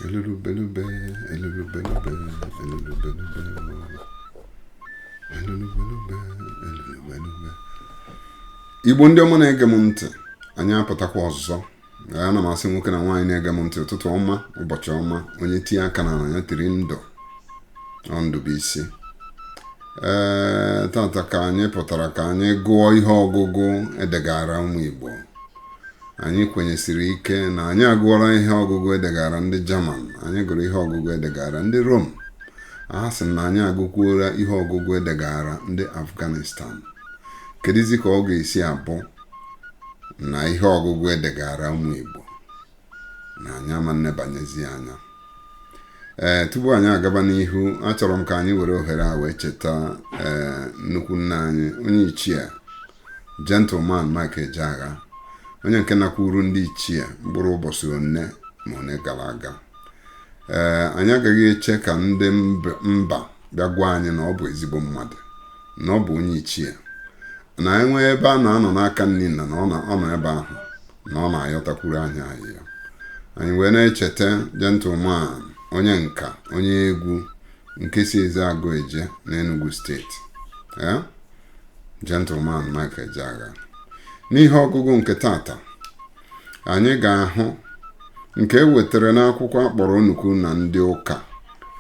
Elulubelube, elulubelube, elulubelube, elulubelube, elulubelube. Igbo ndị ọma na-ege m ntị anyị apụtakwa ọzọ ana m asị nwoke na nwaanyị na-ege m ntị ụtụtụ ọma ụbọchị ọma onye tie aka na ya tiri ndụ ọ ndụ bụ isi ee tata ka anyị pụtara ka anyị gụọ ihe ọgụgụ edegara ụmụ Igbo anyị kwenyesiri ike na anyị agụọla ihe ọgụgụ edegara ndị Jaman anyị gụrụ ihe ọgụgụ edegara ndị Rom a sị na anyị agụkwuola ihe ọgụgụ edegara ndị Afghanistan kedụzi ka ọ ga-esi abụ na ihe ọgụgụ edegara ụmụ Igbo na anyị ama nnebanyezi anya ee tupu anyị agaba n'ihu achọrọ m ka anyị were ohere a wee cheta ee nnukwu nna anyị onye ichie Gentleman Mike Ejeagha onye nke nakwuru ndị ichie mkpụrụ ụbọchị one na one gara aga ee anyị agaghị eche ka ndị mb- mba bịa gwa anyị na ọ bụ ezigbo mmadụ na ọ bụ onye ichie na e nwee ebe a na-anọ n'aka nni nna na ọ na- ọ nọ ebe ahụ na ọ na-ayọtakwuru anyị ayịyọ anyị wee na-echeta gentleman onye nka onye egwu nke si Ezeagụ eje n'Enugu steeti ee Gentleman Mike Ejeagha n'ihe ọgụgụ nke tata anyị ga-ahụ nke ewetara n'akwụkwọ akpọrọ onukwu na ndị ụka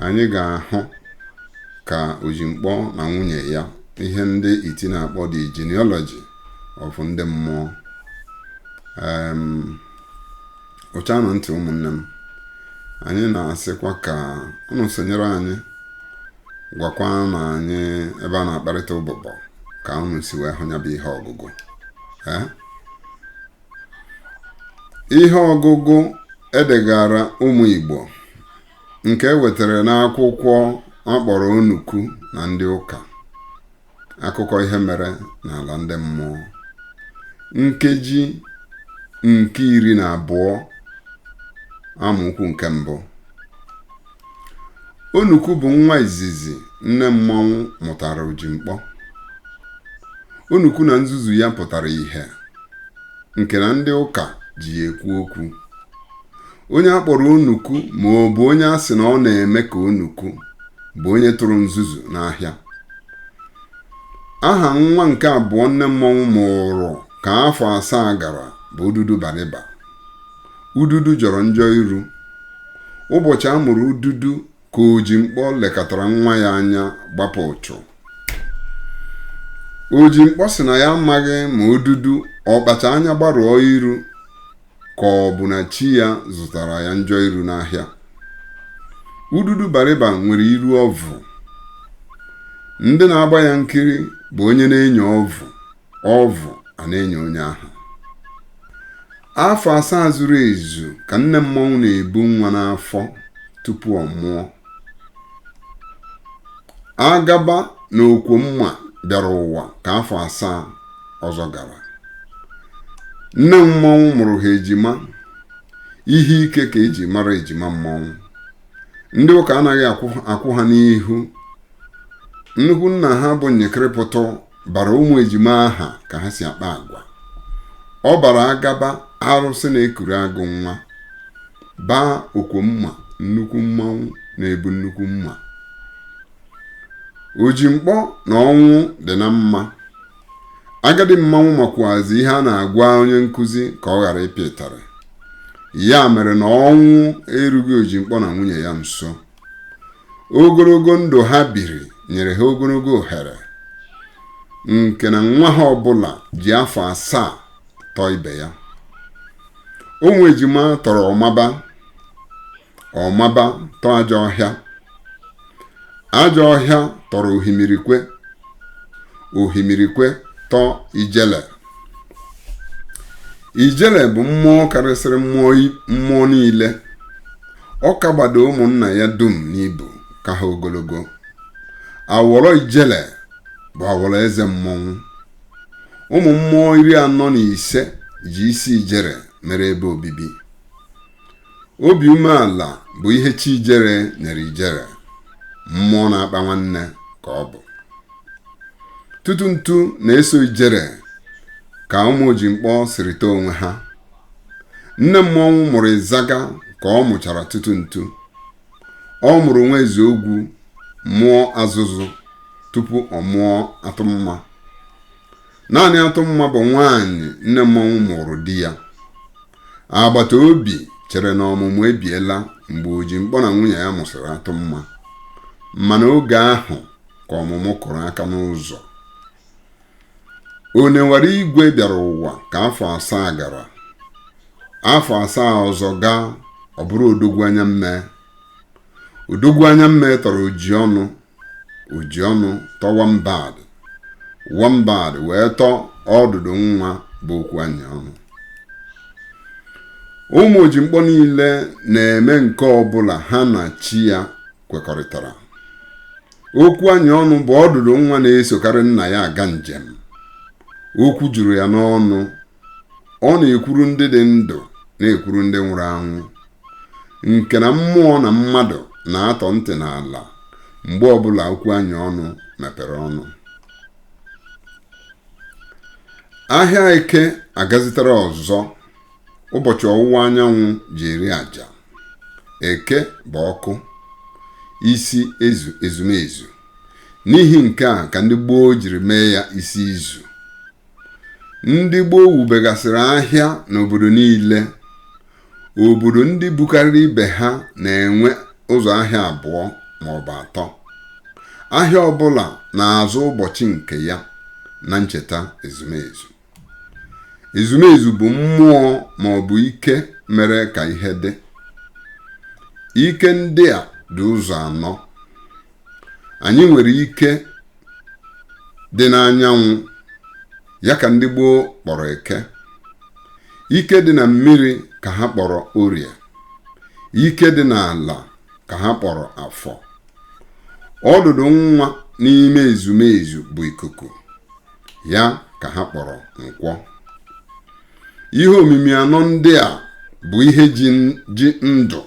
anyị ga-ahụ ka ojimkpọ na nwunye ya ihe ndị iti na-akpọ the genealogy of ndị mmụọ em ụchanụ ntị ụmụnne m anyị na-asịkwa ka unu sonyere anyị gwakwanụ anyị ebe a na-akparịta ụbụbọ ka unu si wee hụ ya bụ ihe ọgụgụ ee ihe ọgụgụ edegara ụmụ Igbo nke e wetara n'akwụkwọ akpọrọ onukwu na ndị ụka akụkọ ihe mere n'ala ndị mmụọ nkeji nke iri na abụọ amaokwu nke mbụ onukwu bụ nwa izizi nne mmọnwụ mụtara ojimkpọ onukwu na nzuzu ya pụtara ihe nke na ndị ụka ji ya ekwu okwu onye a kpọrọ onukwu ma ọ bụ onye a sị na ọ na-eme ka onukwu bụ onye tụrụ nzuzu n'ahịa aha nwa nke abụọ nne mmọnwụ mụrụ ka afọ asaa gara bụ ududu bariba ududu jọrọ njọ iru ụbọchị a mụrụ ududu ka ojimkpọ lekatara nwa ya anya gbapụ ụchụ ojimkpọ sị na ya amaghị ma ududu ọ kpacha anya gbarụọ iru ka ọ bụ na chi ya zụtara ya njọ iru n'ahịa ududu bariba nwere iru ọvụ ndị na-agba ya nkiri bụ onye na-enyo ọvụ ọvụ a na-enyo onye ahụ afọ asaa zuru ezu ka nne mmọnwụ na-ebu nwa n'afọ tupu ọ mụọ agaba na okwomma bịara ụwa ka afọ asaa ọzọ gara nne mmọnwụ mụrụ ha ejima ihe ike ka eji mara ejima mmọnwụ ndị ụka anaghị akwụ ha n'ihu nnukwu nna ha bụ nyekịrịpụtụ bara ụmụ ejima aha ka ha si akpa agwa ọ bara agaba arụsị na-ekuru agụ nwa baa okwomma nnukwu mmanwụ na-ebu nnukwu mma ojimkpọ na ọnwụ dị na mma agadi mmanwụ makwazi ihe a na-agwa onye nkụzi ka ọ ghara ịpịa ịtarị ya mere na ọnwụ erughị ojimkpọ na nwunye ya nso ogologo ndụ ha biri nyere ha ogologo ohere nke na nwa ha ọbụla ji afọ asaa tọọ ibe ya ụmụ ejima tọrọ ọmaba ọmaba tọọ ajọ ọhịa ajọ ọhịa tọrọ ohimirikwe ohimirikwe tọọ ijele ijele bụ mmụọ karịsịrị mmụọ niile ọ kagbado ụmụnna ya dum n'ibu ka ha ogologo awọrọ ijele bụ awọrọ eze mmọnwụ ụmụ mmụọ iri anọ na ise ji isi ijere mere ebe obibi obi umeala bụ ihe chi ijere nyere ijere mmụọ na-akpa nwanne ka ọ bụ tutu ntu na-eso ijere ka ụmụ ojimkpọ sirịta onwe ha nne mmọnwụ mụrụ ịzaga ka ọ mụchara tutu ntu ọ mụrụ nwa eze ogwu mụọ azụzụ tupu ọ mụọ atụmma naanị atụmma bụ nwaanyị nne mmọnwụ mụrụ di ya agbata obi chere na ọmụmụ ebiela mgbe ojimkpọ na nwunye ya mụsịrị atụmma mana oge ahụ ka ọmụmụ kụrụ aka n'ụzọ onewara igwe bịara ụwa ka afọ asaa gara afọ asaa ọzọ gaa ọ bụrụ odogwu anya mmee odogwu anya mmee tọrọ ojiọnụ ojiọnụ tọọ wambad wambad wee tọọ ọdụdụ nwa bụ okwu anyị ọnụ ụmụ ojimkpọ niile na-eme nke ọbụla ha na chi ya kwekọrịtara okwu anyị ọnụ bụ ọdụdụ nwa na-esokarị nna ya aga njem okwu juru ya n'ọnụ ọ na-ekwuru ndị dị ndụ na-ekwuru ndị nwụrụ anwụ nke na mmụọ na mmadụ na-atọ ntị n'ala mgbe ọbụla okwu anyị ọnụ mepere ọnụ ahịa eke agazitere ọzọ ụbọchị ọwụwa anyanwụ ji eri aja eke bụ ọkụ isi ezu ezumezu n'ihi nke a ka ndị gboo jiri mee ya isi izu ndị gboo wubegasịrị ahịa n'obodo niile obodo ndị bukarịrị ibe ha na-enwe ụzọ ahịa abụọ ma ọ bụ atọ ahịa ọbụla na-azụ ụbọchị nke ya na ncheta ezumezu ezumezu bụ mmụọ ma ọ bụ ike mere ka ihe dị ike ndị a dị ụzọ anọ anyị nwere ike dị n'anyanwụ ya ka ndị gboo kpọrọ eke ike dị na mmiri ka ha kpọrọ orie ike dị n'ala ka ha kpọrọ afọ ọdụdụ nwa n'ime ezumezu bụ ikuku ya ka ha kpọrọ nkwọ ihe omimi anọ ndị a bụ ihe ji ndụ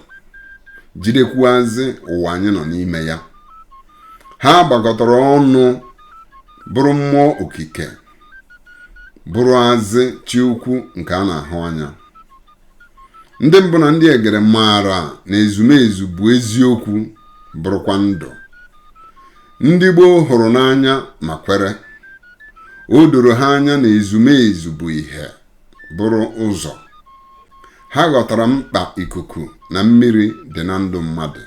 jidekwuazị ụwa anyị nọ n'ime ya ha gbakọtara ọnụ bụrụ mmụọ okike bụrụazị chi ukwu nke a na-ahụ anya ndị mbụ na ndị egere maara na ezumezu bụ eziokwu bụrụkwa ndụ ndị gboo hụrụ n'anya ma kwere o doro ha anya na ezumezu bụ ihe bụrụ ụzọ ha ghọtara mkpa ikuku na mmiri dị na ndụ mmadụ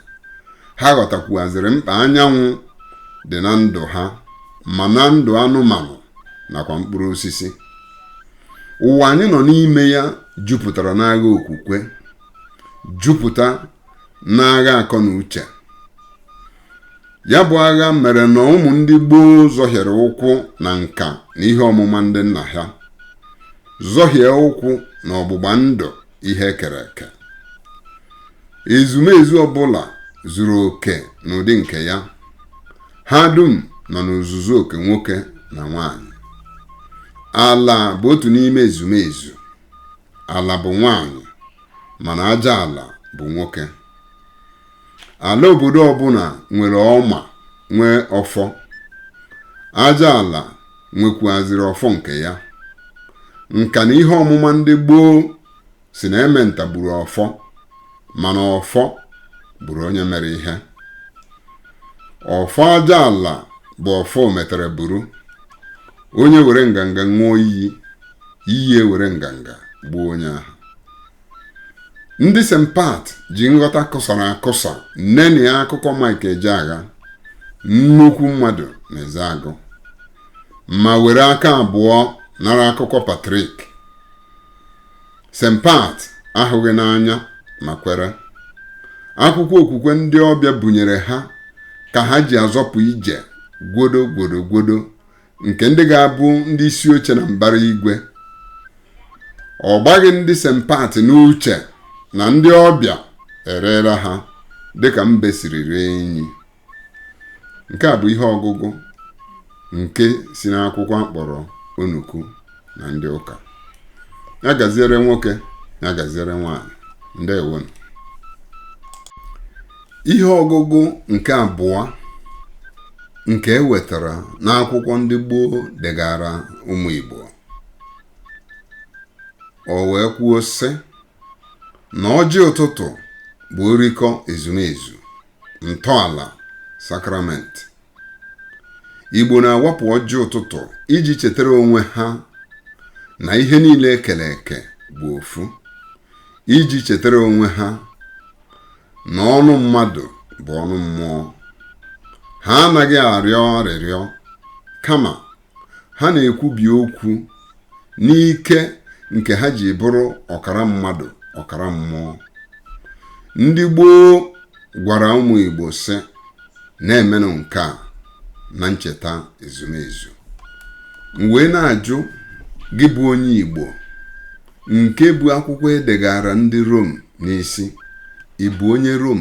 ha ghọtakwuazịrị mkpa anyanwụ dị na ndụ ha ma na ndụ anụmanụ nakwa mkpụrụ osisi ụwa anyị nọ n'ime ya jupụtara n'agha okwukwe jupụta n'agha akọ na uche ya bụ agha mere na ụmụ ndị gboo zọhiere ụkwụ na nka na ihe ọmụma ndị nna ha zọhie ụkwụ na ọgbụgba ndụ ihe e kere eke ezumezu ọbụla zuru oke n'ụdị nke ya ha dum nọ n'ozuzu oke nwoke na nwanyị ala bụ otu n'ime ezumezu ala bụ nwanyị mana aja ala bụ nwoke ala obodo ọbụla nwere ọma nwee ọfọ aja ala nwekwuaziri ọfọ nke ya nka na ihe ọmụma ndị gboo sị na ementa gburu ọfọ mana ọfọ gburu onye mere ihe ọfọ aja ala bụ ọfọ ometara buru onye were nganga ṅụọ iyi iyi ewere nganga gbuo onye ahụ ndị St. Pat ji nghọta kụsara akụsa nenịa akụkọ Mike Ejeagha nnukwu mmadụ n'Ezeagụ ma were aka abụọ nara akụkọ Patrick St. Pat ahụghị n'anya ma kwere akwụkwọ okwukwe ndị ọbịa bunyere ha ka ha ji azọpụ ije gwodo gwodo gwodo nke ndị ga-abụ ndị isi oche na mbara igwe ọ gbaghị ndị St. Pat n'uche na ndị ọbịa ereela ha dịka mbe siri ree enyi nke a bụ ihe ọgụgụ nke si n'akwụkwọ akpọrọ onuku na ndị ụka ya gaziere nwoke ya gaziere nwaanyị ndewonụ ihe ọgụgụ nke abụọ nke e wetara n'akwụkwọ ndị gboo degara ụmụ Igbo o wee kwuo sị na ọjị ụtụtụ bụ orikọ ezumezu ntọala sakramenti igbo na-awapụ ọjị ụtụtụ iji chetara onwe ha na ihe niile ekere eke bụ ofu iji chetara onwe ha na ọnụ mmadụ bụ ọnụ mmụọ ha anaghị arịọ arịrịọ kama ha na-ekwubi okwu n'ike nke ha ji bụrụ ọkara mmadụ ọkara mmụọ ndị gboo gwara ụmụ Igbo sị na-emenụ nke a na ncheta ezumezu m wee na-ajụ gị bụ onye Igbo nke bu akwụkwọ edegara ndị Rom n'isi ị bụ onye Rom